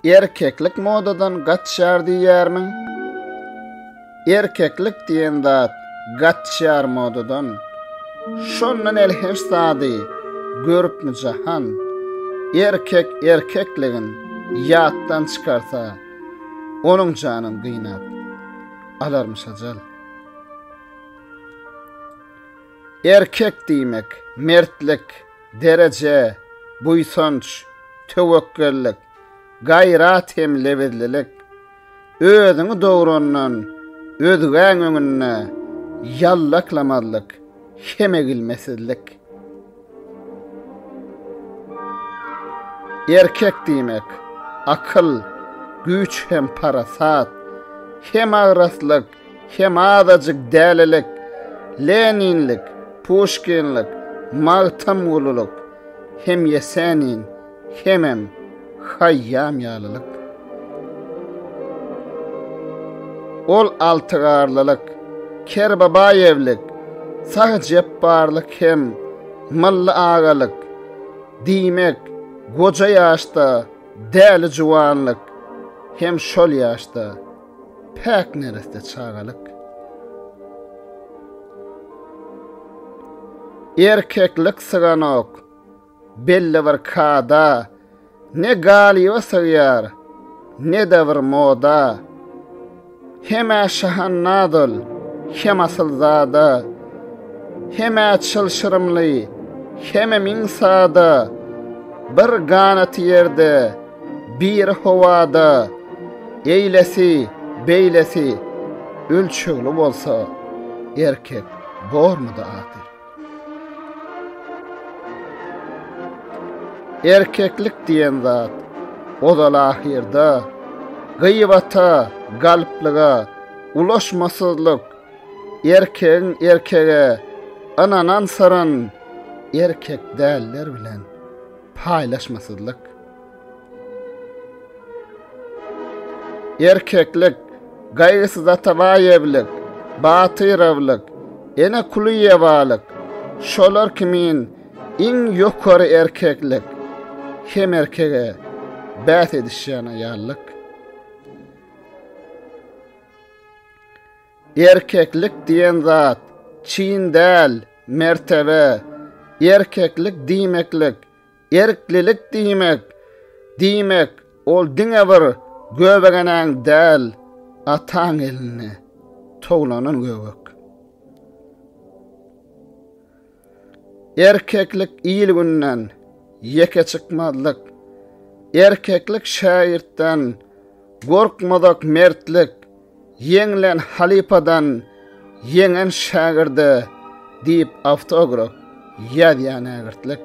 Erkeklik modadan gaçýar diýýärmiň? Erkeklik diýen zat gaçýar modadan. Şondan el her sady görüpmi jahan? Erkek erkekligin ýatdan çykarsa, onuň janyn gynap alarmyş ajal. Erkek diýmek, mertlik, dereje, buýsanç, töwekgellik, gaýrat hem lebizlilik. Özüňi dograndan özgäň öňünde ýallaklamazlyk hem egilmesizlik. Erkek diýmek, akyl, güýç hem parasat, hem agraslyk, Hem azajyk dälilik, Leninlik, Puşkinlik, Magtymgulylyk, hem Ýesenin, hemem Haýýam ýalylyk. Ol Altygarlylyk, Kerbabaýewlik, Sahy Jepbarlyk hem Mylly agalyk, diýmek, goja ýaşda däli juwanlyk, hem şol ýaşda. Päk nereste çagalyk. Erkeklik syganok. Belli bir kada. Ne galiba sygýar. Ne-de bir moda. Hemä şahannadol. Hem asylzada. Hemä çylşyrymly. Hemä miň sada. Bir ganaty ýerde. Bir howada eýlesi, beýlesi ölçegli bolsa erkek bormudy ahyr. Erkeklik diýen zat ozal ahyrda gyýbata, galplyga, ulaşmasyzlyk, erkegiň erkege ynanan syryn erkek däller bilen. Paýlaşmasyzlyk. Erkeklik, Gaýgysyz Atabaýewlik, Batyrowlyk, Ene Kulyýewalyk, şolar kimin iň ýokary erkeklik hem erkege bäs edişýän aýallyk. Erkeklik diýen zat, çyn däl, mertebe. Erkeklik diýmeklik, erklilik diýmek. Diýmek, ol diňe bir göbegenäň däl, ataň elinde towlanan göbek. Erkeklik il-günden ýeke çykmazlyk, Erkeklik şägirtden gorkmazak mertlik, Ýeňlen halypadan ýeňen şägirde diýip awtograf ýazýar nägirtlik.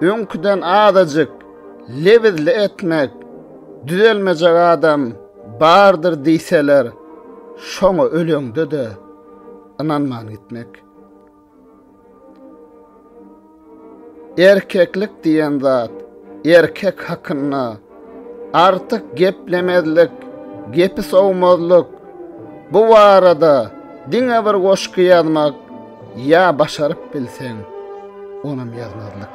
Öňküden azajyk lebizli etmek, düzelmejek adam bardyr diýseler, şoňa öleňde-de ynanman gitmek. Erkeklik diýen zat erkek hakynda Artyk geplemezlik, gepi sowmazlyk, bu barada diňe bir goşgy ýazmak ýa başaryp bilseň, onam ýazmazlyk.